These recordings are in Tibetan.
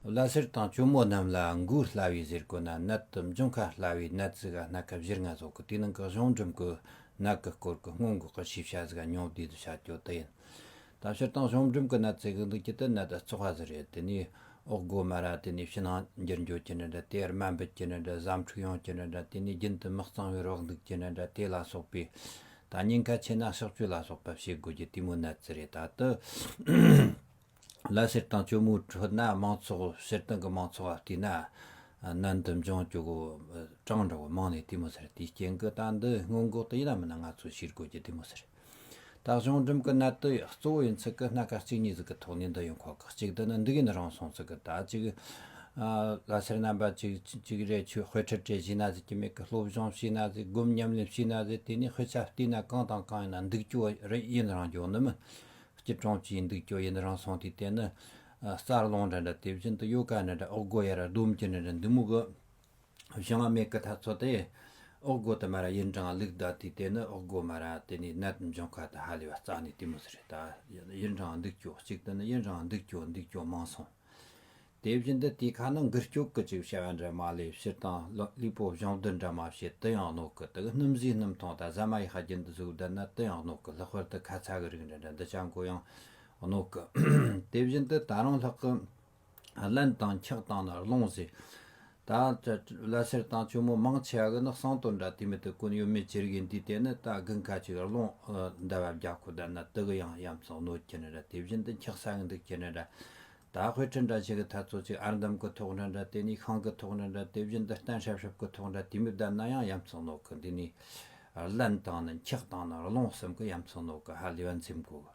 བླ་སེར་དང་གཅུང་མོ་རྣམས་ལ་མགུ་སླ་བའི་གཟེར་གོ་ན་ནད་དུ་འབྱུང་ཁ་སླ་བའི་ནད་རྩི་ག་སྣ་ཁ་བཞི་ལྔ་བཟོ་གི་དེའི་ནང་གི་གཞུང་འབྲུམ་གི་ནད་ཀྱི་སྐོར་གྱི་སྔོན་འགོག་གི་ཤེས་བྱ་གཟི་ག་ཉུང་བསྡུས་དུ་བྱ་རྒྱུ་དེ་ཡིན། དམ་ཤུར་དང་གཞུང་འབྲུམ་གྱི་ནད་རྩི་གི་འདུག་ཀྱི་དེ་ནད་བཙོག་བ་ཟེར་རེད་དེ་ནས་འོག་སྒོ་མ་ར་དེ་ནས་ཕྱི་ནང་འགྱུར་འགྱུར་གྱི་ནད་འདྲ་དེ་རྨ་འབུད་ཀྱི་ནད་འདྲ་བཟའ་འཁྲུག་ཡོང་གྱི་ནད་འདྲ་དེ་ནས་རྒྱུན་དུ་མི་གཙང་བའི་རོགས་འདུག་གྱི་ནད་འདྲ་དེ་ལ་སོགས་པའི་ད་སྙིང་ག་ཆེ་ན་ཕྱག་བཅོས་ལ་སོགས་པ་བྱེད་དགོས་རྒྱུ་དེ་མོའི་ནད་རྩི་རེད་ད་དུ་ལ་བཤེར་སྟངས་གཅོ་མོའི་ཁྲོད་ན་མང་ཚོགས་བཤེར་སྟངས་ཀྱི་མང་ཚོགས་ལ་བལྟས་ན་ནན་དུ་འབྱུང་གཅོ་གོ་གྲངས་འདྲ་བོ་མང་ནས་བལྟས་མོ་ཟེར་དེའི་རྐྱེན་གྱི་སྟངས་འདི་སྔོན་འགོག་ཏུ་ཡིན་ནམ་མིན་ན་ང་ཚོས་ཕྱིར་རྒོལ་གྱི་བལྟས་མོ་ཟེར་ད་གཞུང་འགྲིམ་གྱི་གནད་དོ་གཙོ་བོ་ཡིན་ཚུལ་གྱི་སྣ་ཁ་གཅིག་གཉིས་ཟིག་གི་ཐོག་ནས་འདི་ཡོང་ཁོག་གི་གཅིག་འདི་ནི་འདི་གིན་རང་སོང་ཚུལ་གྱི་ད་གཅིག་ལ་བཤེར་རྣམ་པ་གཅིག་གཅིག་རེ་ཆོས་དཔེ་ཁྲིད་དྲེ་བྱས་ན་ཟིག་གི་མེད་གི་སློབ་སྦྱོང་བྱས་ན་ཟིག་སྒོམ་ཉམས་ལེན་བྱས་ན་ཟིག་དེ་ནས་དཔེ་ཆ་བལྟས་ན་གང་དང་གང་ཡིན་ན་འདུག་གཅོ་རེ་ཡིན་རང་འགྱོག་ནི་མི་སྐྱིད་གྲོང་གཅིག་འདུག་ཀྱོ་ཡིན་རང་སོང་དུས་དེ་ནི། རྩར་སློང་འདྲ་འདྲ་དེ་བཞིན་དུ་གཡོ་ཀ་འདྲ་འདྲ་ཨོག་སྒོ་ཡ་ར་ཟླུམ་གྱི་འདྲ་འདྲ་འདི་མུག་གི། བཞི་ལྔ་མེད་ཀི་ཐ་ཚོ་དེ། ཨོག་སྒོ་དུ་མ་ར་ཡིན་གྲང་ལུག་ད་དུས་དེ་ནི་ཨོག་སྒོ་མ་ར་དེ་ནི་ནད་འབྱུང་ཁ་ད་ཧ་ལས་བ་རྩ་ནི་དུས་མུ་ཟི་རི་ད། ཡིན་རང་འདུག་ཀྱོ་གཅིག་དུ་ནི་ཡིན་རང་འདུག་ཀྱོ་འདུག་ཀྱོ་མང་སོང། དེ་བཞིན་དུ་དེའི་ཁ་ན་འགུལ་སྐྱོག་གི་ཅིག་བྱ་བ་འདྲ་མ་ལས་ཕྱིར་དང་ལུས་པོ་བཞིན་བདུད་འདྲ་མ་བྱེད་དུ་ཡང་གནོད་ཀི་དག་སྣུམ་བཟའི་སྣུམ་ཐང་དང་ཟ་མ་ཡི་ཤ་རྒྱན་དུ་གཟུགས་བསྡུ་ན་དུ་ཡང་གནོད་ཀི་ལྷག་པར་དུ་ཁ་ཚ་གི་རིགས་འདྲ་འདྲ་འདི་བྱ་འགོ་ཡང་གནོད་ཀི། དེ་བཞིན་དུ་ད་རང་ལྷག་གི་བརླན་དང་འཁྱག་དང་ནི་རླུང་བཟས་དང། བླ་སེར་དང་གཅུང་མོ་མང་ཆེ་བ་གི་ནི་གསང་དོན་འདྲ་དུས་མི་དུ་ཀུན་ཡོད་མེད་ཅི་རིགས་ཡིན་དུས་དེ་ནི་ད་དགུན་ཁ་ཅིག་རི་ལུང་འདི་བབས་རྒྱ་ཁོ་དར་ན་དུ་གི་ཡང་གཡམ་ཚང་གནོད་ཀྱི་ནི་འདྲ་དེ་བཞིན་དུ་འཁྱག་ས་གི་འདུག་ཀྱི་ནི་འདྲ། ད་དཔེ་ཁྲི་འདྲ་ཆེ་གི་ཐ་ཚོ་ཅིག་ཨར་འདམ་གི་ཐོག་འདྲ་འདྲ་དེ་ནི་ཤང་གི་ཐོག་འདྲ་འདྲ་དེ་བཞིན་དུ་གཏན་ཧྲབ་ཧྲབ་གི་ཐོག་འདྲ་དུས་མི་བདར་ན་ཡང་གཡམ་ཚང་གནོད་གི་འདི་ནི་རླན་དང་ནི་འཁྱག་དང་ནི་རི་ལུང་གསུམ་གི་གཡམ་ཚང་གནོད་གི་ཧ་ལས་པ་འཛེམ་དགོས།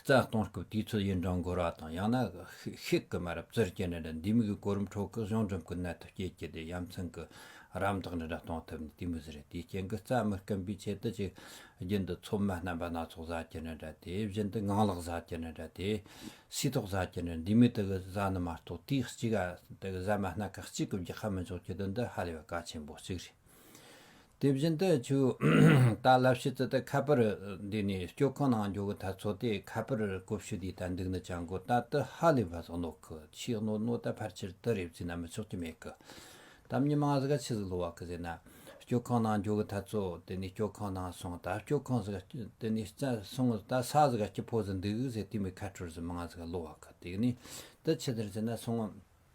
རྩ་སྟོང་སྐབས་དུས་ཚོད་ཡུན་གྲངས་འགོར་བ་དང་ཡང་ན་ཤིག་གི་མ་རབས་རྩིར་སྐྱེལ་འབྲི་འདྲ་འདུས་མི་གི་གོ་རིམ་ཁྲོད་སྐུ་གཞུང་འགྲིམ་སྐུ་གནད་དུ་སྐྱེལ་སྐྱེལ་ཏེ་ཡ་མཚན་གྱི་རམ་འདེགས་འདི་འདྲ་གཏོང་ཐུབ་ནས་དུས་མི་ཟིན་རིང་དེའི་རྐྱེན་གྱི་རྩ་མི་སྐེམ་པའི་ཆེད་དུ་ཅིག་རྒྱུན་དུ་ཚོད་མ་རྣམ་པ་སྣ་ཚོགས་བཟའ་སྐྱེལ་འདི་འདྲ་དེ་བཞིན་དུ་ངང་ལག་བཟའ་སྐྱེལ་འདི་འདྲ་དེ་སུས་ཐོག་བཟའ་སྐྱེལ་འདི་འདྲ་འདུས་མི་དེ་གི་བཟའ་ནི་མ་གཏོགས་དུས་གཅིག་གི་བཟའ་མ་སྣ་ཁག་གཅིག་གི་རྒྱག་ཧ་མི་ཆོག་ཀྱི་དོན་འདི་ཧ་ལས་པ་གལ་ཆེན་པོ་གཅིག་རེད། དེ་བཞིན་དུ་ཆུ་དག་བསླབ་ཕྱི་ཙི་ཏི་ཁ་པར་འདི་ནས་སྐྱོ་ཁང་ནང་འགྱོ་གི་ཐ་ཚོ་དེ་ཁ་པར་ཀོ་བཤུ་དེའི་ཐ་འདུག་ནི་ཅང་གོ་ད་ཏི་ཧ་ལི་བ་ཟོག་ནོག་གི་ཆིག་གནོ་གནོ་ད་ཕར་ཆིར་ཏི་རེ་བཙི་ན་མི་ཆོག་ཀྱི་མེད་གི་དམ་ཉི་མང་ཟི་ག་ཆི་ཟི་ལོ་བ་གི་ཟེ་ན་སྐྱོ་ཁང་ནང་འགྱོ་གི་ཐ་ཚོ་དེ་ནས་སྐྱོ་ཁང་ནང་སོང་ད་སྐྱོ་ཁང་ཟི་ག་དེ་ནས་ཙ་སོང་ད་ས་ཟི་ག་སྐྱི་ཕོ་ཟི་འདུག་ཟེ་ཏི་མི་ཁ་ཁྲོར་ཟི་མང་ཟི་ག་ལོ་བ་གི་དེ་ནས་ཏི་ཆི་ཟིར་ཟེ་ན་སོང།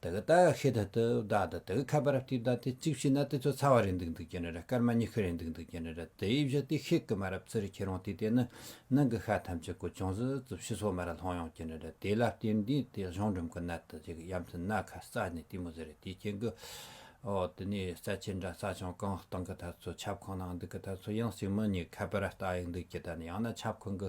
དེ་ག་ད་ཧེ་ད་ཏི་བདག་དང་དེ་ག་ཁ་པར་ཏི་བདག་དེ་གཅིག་བྱས་ན་དེ་ཚོ་ཚ་བ་རེད་འདུག་འདུག་ཀྱི་ནི་ར་སྐར་མ་གཉིས་ཤུ་རེད་འདུག་འདུག་ཀྱི་ནི་ར་དེ་ཡི་བཞི་དེ་ཤེས་ཀི་མ་ར་བཙི་རི་ཁྱེད་རང་དེ་དེ་ནི་ནང་གི་ཤ་ཐམས་ཅད་གོ་ཅུང་ཟི་ཟི་བྱི་སོ་མ་ར་ལྷང་ཡོང་ཀྱི་ནི་ར་དེ་ལ་བརྟེན་དེ་དེ་གཞུང་འགྲིམ་གི་ནད་དུ་ཅིག་ཡམ་སྲི་ནད་ཁ་རྩ་ནས་ལྟི་མོ་ཟི་རེད་དེ་ཁྱེད་གི་འོ་དེ་ནས་རྩ་ཆེ་འདྲ་རྩ་ཆུང་གང་སྟང་གི་ད་ཚོ་ཁྱབ་ཁོངས་ནང་འདུག་གི་ད་ཚོ་ཡང་སྲིང་མོ་གཉིས་ཁ་པར་ལྟ་ཡི་འདུག་ཀྱི་ད་ནི་ཡང་ན་ཁྱབ་ཁོངས་གི་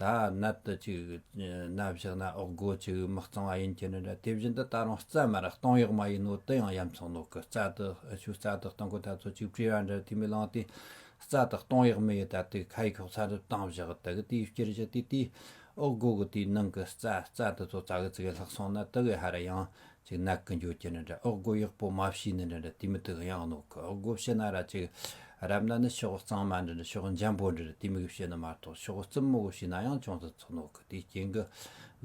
ད་ནད་དུ་ཅིག་ན་བཞག་ན་འོག་སྒོ་ཅིག་མི་གཙང་བ་ཡིན་གྱི་ནི་འདྲ་དེ་བཞིན་དུ་ད་རུང་རྩ་མེད་ར་སྟོང་གཡོག་མ་ཡིན་ནོ་དེ་ཡང་ཡ་མཚང་ནོག་གི་རྩ་དུ་ཆུ་རྩ་དུ་སྟོང་གི་ད་ཚོ་ཅིག་བྲིས་པ་འདྲ་དེ་མི་ལང་སྟེ་རྩ་དུ་སྟོང་གཡོག་མི་ཡི་ད་དེ་ཁ་ཡི་ཁྱོག་ཚ་རུ་སྟང་བཞག་དག་དེའི་སྤྱིར་བཞག་དེ་དེའི་འོག་སྒོ་གི་དེའི་ནང་གི་རྩ་རྩ་དུ་ཚོ་རྩ་གི་ཚིག་གི་ལྷག་སོང་ན་དག་གི་ཧ་ར་ཡང་ཅིག་ནག་གི་འགྱོ་ཀྱི་འདྲ་འདྲ་ཨག་སྒོ་ཡག་པོ་མ་བྱས་ནི་འདྲ་འདྲ་དེ་མི་དག་གཡང་ནོག་གི་ཨག་སྒོ་བྱས་ན་ར་ཅིག་རབ་ན་ནི་ཕྱོགས་གཙང་མ་འདྲ་འདྲ་ཕྱོགས་འཇམ་པོ་འདྲ་འདྲ་དེ་མིག་བྱས་ནི་མ་གཏོགས་ཕྱོགས་རྩུབ་མོ་བྱས་ན་ཡང་ཅུང་ཙམ་ཚུགས་ནོག་གི་དེའི་རྐྱེན་གི་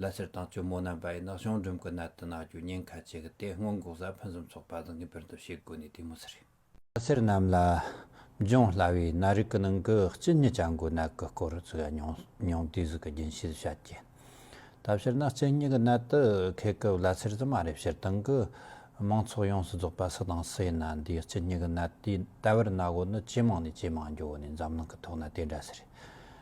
ལ་སེར་དང་གཅུང་མོ་རྣམས་པ་ཡིས་ནག་གཞུང་འགྲིམ་གི་ནད་དུ་ནག་གྱོ་ཉེན་ཁ་ཆེ་གི་དེ་སྔོན་འགོག་ས་ཕུན་སུམ་ཚོགས་པ་དང་ངེས་པར་དུ་བྱེད་དགོས་ནི་དེ་མོ་ཟེར། ལྷ་སེར་རྣམས་ལ་འབྱུང་སླ་བའི་ནད་རིགས་ཀྱི་ནང་གི་གཅིན་སྙི་སྐྱ་འགོའི་ནད་ཀྱི་སྐོར་བརྩི་མྱོང་དུས་གཟུགས་ཀྱི་རྒྱུན་ཤེས་བྱ་དཀའི། ད་ཕྱིར་ན་གཅིན་སྙི་གི་ནད་དུ་འཁེལ་སྐབས་ལྷ་སེར་ཙི་མ་རེ་ཕྱིར་བཏང་གིས་མང་ཚོགས་ཡོངས་སུ་རྫོགས་པ་སུ་དང་སུ་ཡིན་ན་འདིའི་གཅིན་སྙི་གི་ནད་དེའི་ལྟ་བར་ན་གོ་ནི་ཇེ་མང་ནས་ཇེ་མང་མགྱོགས་ནས་འཛམ་གླིང་གི་ཐོག་ན་དེ་འདྲ་ཟེར།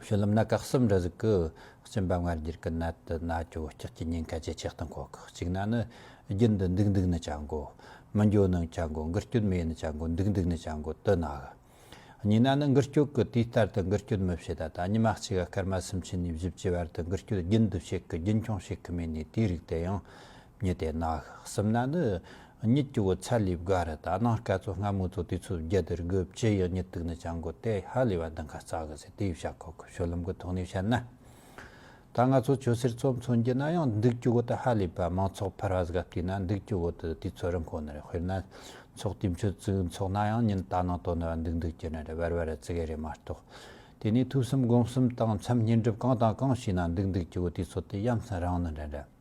བཤུལ་ལམ་ན་བཀག་གསབ་འདྲ་གཟུགས་ཀྱི་གཅིན་པ་སྔར་རྒྱུར་སྐུལ་ན་དུ་ན་གྱོ་སྐྱག་གི་ཉེན་ཁ་ཇེ་ཆེ་གཏོང་གོ་ཁག་གཅིག་ན་ནི་རྒྱུན་དུ་འདུག་འདུག་ནི་བྱ་འགོ་མི་འགྱོ་ནི་བྱ་འགོ་འགུལ་སྐྱོད་མེད་ནི་བྱ་འགོ་འདུག་འདུག་ནི་བྱ་འགོ་དུ་ན་ག་གཉིས་ན་ནི་འགུལ་སྐྱོད་ཀྱི་དུས་ལྟར་དུ་འགུལ་སྐྱོད་མི་བྱེད་ད་ད་ཉི་མ་གཅིག་ག་སྐར་མ་གསུམ་ཕྱེད་ནས་བཞི་བཅུའི་བར་དུ་འགུལ་སྐྱོད་རྒྱུན་དུ་བྱེད་གི་རྒྱུན་འཁྱོངས་བྱེད་གི་མེད་ནས་དེའི་རིགས་དེ་ཡང་ཉིད་དེ་ན་སིམ་ན་ནི་ཉིད་ཀྱི་བུ་ཚ་ལི་བག་རི་དང་གནང་སྐལ་ཚོ་སྔ་མོ་ཚོ་དུས་ཚོད་བརྒྱད་དེར་དགུ་བཅུ་ཡི་ཉིད་དུག་ནི་ཅང་དགོས་ཏེ་ཧ་ལས་བ་འདི་འགའ་རྩ་གི་ཟེར་དེ་ཡི་བྱ་ཁོ་ཁོ་ཤོ་ལུམ་གི་ཐོག་ནས་བཤད་ན། ད་ང་ཚོ་ཆོས་སེར་ཚོ་མཚོན་རྒྱུ་ན་ཡང་འདུག་ཀྱི་བུ་དེ་ཧ་ལས་པ་མང་ཚོགས་ཕར་བ་ཟག་བལྟས་ན་འདུག་ཀྱི་བུ་དེ་དུས་ཚོད་རིང་ཁོ་ནར་དཔེར་ན་ཚོགས་དུས་མཆོད་བཙུགས་འཚོགས་ན་ཡང་ཉིན་ད་ནང་དོ་ནི་བ་འདུག་འདུག་ཀྱི་ནི་རེད་བར་བར་བརྩི་གི་རེད་མ་གཏོགས་དེ་ནས་ཐུགས་གསུམ་སྒོམ་གསུམ་དང་མཚམས་བསྙེན་སྒྲུབ་གང་དང་གང་བྱས་ན་འདུག་འདུག་ཀྱི་བུ་དུས་ཚོད་དེ་ཡ་མཚན་རང་ནི་འདྲ་འདྲ།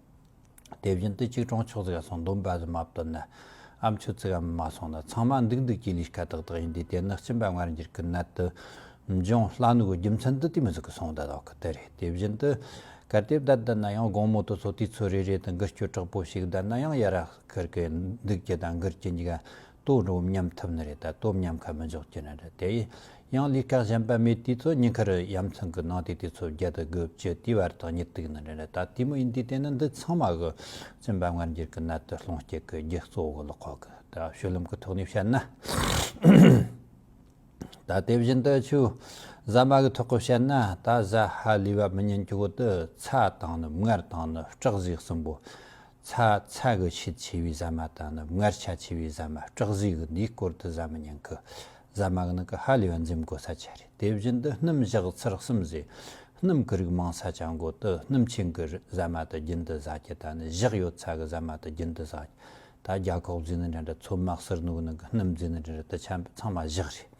དེ་བཞིན་དུ་གཅིག་གྲོང་ཆོག་ཙིག་ག་སོང་འདོམས་པ་ཟི་མ་བཏོན་ན་འམ་ཆོས་ཙིག་གམ་མ་སོང་ན་ཚང་མ་འདུག་འདུག་གྱི་ལུས་དཀའ་ཏག་ཏག་ཡིན་དུས་དེ་ནི་སྤྱིན་པ་སྔར་འགྱུར་གྱི་ནད་དུ་འབྱུང་སླ་ནུ་གོ་རྒྱུ་མཚན་དུ་དུས་མི་ཟིག་གི་སོང་བདལ་བ་ཁུ་དེ་རེད་དེ་བཞིན་དུ་གལ་ཏེ་བདལ་བདལ་ན་ཡང་དགོང་མོ་དུ་ཚོ་དུས་ཚོད་རེ་རེ་དང་འགུལ་སྐྱོད་དྲག་པོ་ཞིག་བདལ་ན་ཡང་ཡར་ར་ཁར་གི་འདུག་གི་དང་འགུལ་གྱི་འཇིག་ལྟོ་འགྲོ་འམ་ཉམས་ཐུབ་ནི་རེད་ད་ལྟོ་ཉམས་ཁ་མི་འཇོག་ཀྱི་རེད་དེ་ཡི་ཡང་ལུས་ཀ་གཞན་པ་མེད་དུས་ཚོད་སྙིང་ཁར་ཡ་མཚན་གི་ནང་དུས་དུས་ཚོད་བརྒྱད་དུ་དགུ་བཅུ་དུས་བར་དང་ཉི་དུག་ནི་རེད་ད་དུས་མི་ཡིན་དུས་དེ་ནི་འདི་ཚང་མ་གི་སེམས་པ་ངར་འགྱུར་གི་གནད་དུ་སློང་སྐྱེད་གི་རྒྱུ་གཙོ་བོ་ལ་ཁོག་གི་ད་བཤུ་ལུམ་གི་ཐོག་ནས་བཤད་ན་ད་དེ་བཞིན་དུ་ཆུ་བཟའ་མ་གི་ཐོག་གི་བཤད་ན་ད་བཟའ་ཧ་ལུས་པ་མི་ཉན་གྱི་བོ་དུ་ཚ་དང་ནུབ་མངར་དང་ནི་སྐྲག་གཟིགས་གསུམ་པོ་ཚ་ཚ་གི་ཆེད་ཆེ་བའི་ཟ་མ་དང་ནུབ་མངལ་ཆ་ཆེ་བའི་ཟ་མ་སྐྲག་གཟུགས་གི་འདིའི་སྐོར་དུ་ཟ་མ་ཉིང་ཁུ་ཟ་མ་གནག་གི་ཧ་ལས་པ་འཛེམ་དགོས་ས་ཆ་རེད་དེ་བཞིན་དུ་སྣུམ་བཞག་ཚུར་གསུམ་བཟོས་སྣུམ་གི་རིགས་མང་ས་ཆ་འགོ་དུ་སྣུམ་ཆེན་གི་ཟ་མ་དུ་རྒྱུན་དུ་ཟ་རྒྱུ་དང་ནི་བཞག་ཡོད་ཚ་གི་ཟ་མ་དུ་རྒྱུན་དུ་ཟ་རྒྱུ་ད་རྒྱ་ཁོག་རྫས་ནི་འདྲ་འདྲ་ཚོ་དམག་སིར་ནུག་ནང་གི་སྣུམ་རྫས་ནི་འདྲ་འདྲ་དུ་ཆ་ཚང་མ་བཞག་རེད།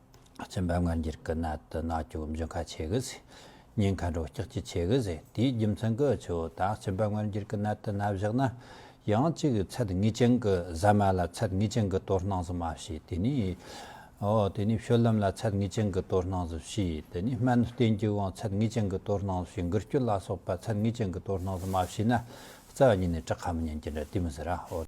སྦྱིན་པ་སྔ་འགྱུར་གྱི་ནད་དུ་ནག་ཀྱོག་འབྱུང་ཁ་ཆེ་གི་ཟེ། ཉེན་ཁ་འགྲོ་སྐྱག་ཅི་ཆེ་གི་ཟེ་དེའི་རྒྱུ་མཚན་གྱི་ཆུ་བོ་དག་སྦྱིན་པ་སྔར་འགྱུར་གྱི་ནད་དུ་ནད་བཞག་ན། ཡང་གཅིག་ཚད་ངེས་ཅན་གྱི་ཟ་མ་ལ་ཚད་ངེས་ཅན་གྱི་དོར་སྣང་ཟི་མ་ཕྱིས་དེ་ནས། དེ་ནས་བཤོལ་ལམ་ལ་ཚད་ངེས་ཅན་གྱི་དོར་སྣང་ཟི་ཕྱིས་དེ་ནས་སྨན་བསྟེན་རྒྱུ་དབང་ཚད་ངེས་ཅན་གྱི་དོར་སྣང་ཟི་ཕྱིས་འགུལ་སྐྱོད་ལ་སོགས་པ་ཚད་ངེས་ཅན་གྱི་དོར་སྣང་ཟི་མ་ཕྱིས་ན། རྩ་བ་ཉིད་ནས་བྲག་ཁ་མི་ཉན་གྱི་འདྲ་དུས་མི་ཟེར་ར།